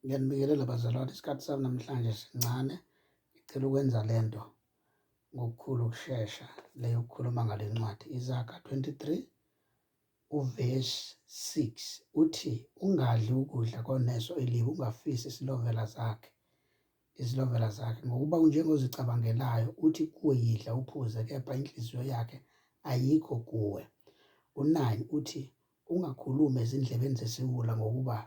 Ngiyanibingelela bazalwane, isikhathi sami namhlanje sincane. Ngicela ukwenza le nto ngokukhulu ukushesha le yokukhuluma ngale ncwadi. Izaga 23 uvesi 6 uthi, ungadli ukudla koneso elibi, ungafisi isilovela zakhe izilovela zakhe ngokuba unjengozicabangelayo uthi kuwe yidla uphuze kepha inhliziyo yakhe ayikho kuwe. U-9 uthi ungakhulumi ezindlebeni zesiwula ngokuba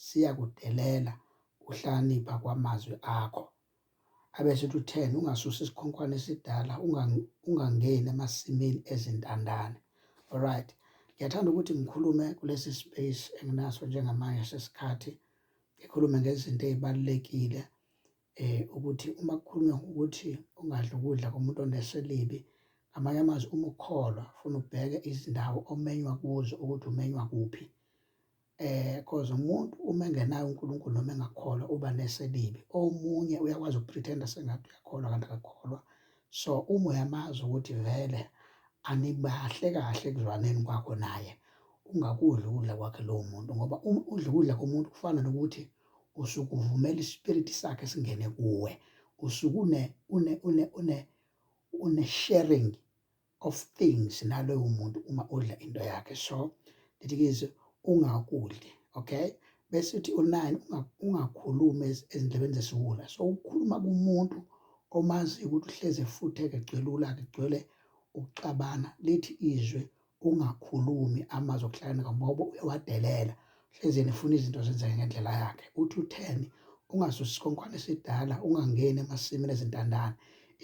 Siyakudelela ukuhlakanipha kwamazwi akho. Abesethi utheni ungasusa isikhonkwane esidala ungangeni emasimini ezintandane. Alright. Ngiyathanda ukuthi ngikhulume kulesi space enginaso njengamanje sesikhathi ngikhulume ngezinto ezibalekile eh ukuthi uma kukhulunywa ukuthi ungadli ukudla komuntu oneselibi amanye amazwi uma ukholwa ufuna ubheke izindawo omenywa kuzo ukuthi umenywa kuphi Eh cause umuntu uma engenaye uNkulunkulu noma engakholwa uba nese elibi. Omunye uyakwazi ukupretenda sengathi uyakholwa kanti akakholwa. So uma uyamazi ukuthi vele anibahle kahle ekuzwaneni kwakho naye, ungakudli ukudla kwakhe lowo muntu ngoba uma udla ukudla komuntu kufana nokuthi usuke uvumela ispiriti sakhe singene kuwe. Usuke une une une une une sharing of things naloyo muntu uma udla into yakhe so that is ungakudli okay bese uthi unani ungakhulumi ezindlebeni zesiwula so ukhuluma kumuntu omazi ukuthi uhleze futhi egcwelula kugcwele ukuxabana lithi izwe ungakhulumi amazwi okuhlakanipha ngoba uyawadelela Hlezeni ufuna izinto zenzeke ngendlela yakhe. Uthi utheni ungasusi isikhonkwane esidala ungangeni emasimini ezintandane.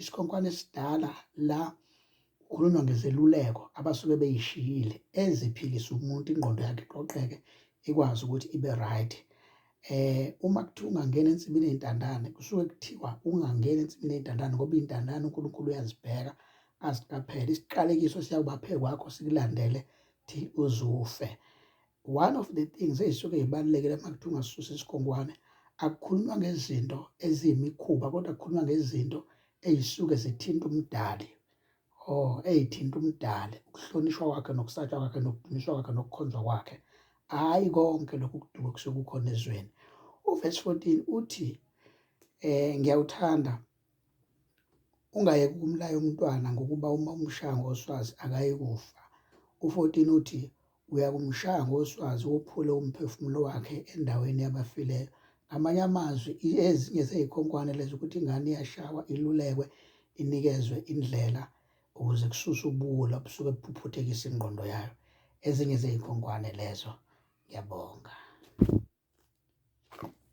Isikhonkwane esidala la kukhulunywa ngezeluleko abasuke beyishiyile eziphilisa umuntu ingqondo yakhe iqoqeke ikwazi ukuthi ibe right. Eh uma kuthiwa ungangena ensimini yentandane kusuke kuthiwa ungangena ensimini yentandane ngoba intandane uNkulunkulu uyazibheka aziqaphele isiqalekiso siyakuba phekwakho sikulandele thi uzufe. One of the things ezisuke zibalulekile uma kuthiwa ungasusa isigongwane akukhulunywa ngezinto eziyimikhuba kodwa kukhulunywa ngezinto ezisuke zithinta umdali oh eyithinta umdali ukuhlonishwa kwakhe nokusatshwa kwakhe nokudunyiswa kwakhe nokukhonzwa kwakhe hayi konke lokhu kuduka kusuke kukhona ezweni uvesi 14 uthi eh ngiyawuthanda Ungayeki ukumlaya umntwana ngokuba uma umshaya ngoswazi akayi kufa. U-14 uthi, Uyakumshaya ngoswazi wophule umphefumulo wakhe endaweni yabafileyo. Ngamanye amazwi, ezinye zey'khonkwane lezi ukuthi ingane iyashawa, ilulekwe, inikezwe indlela ukuze kususwe ubuwula obusuke buphuphuthekisa ingqondo yayo. Ezinye zey'khonkwane lezo. Ngiyabonga.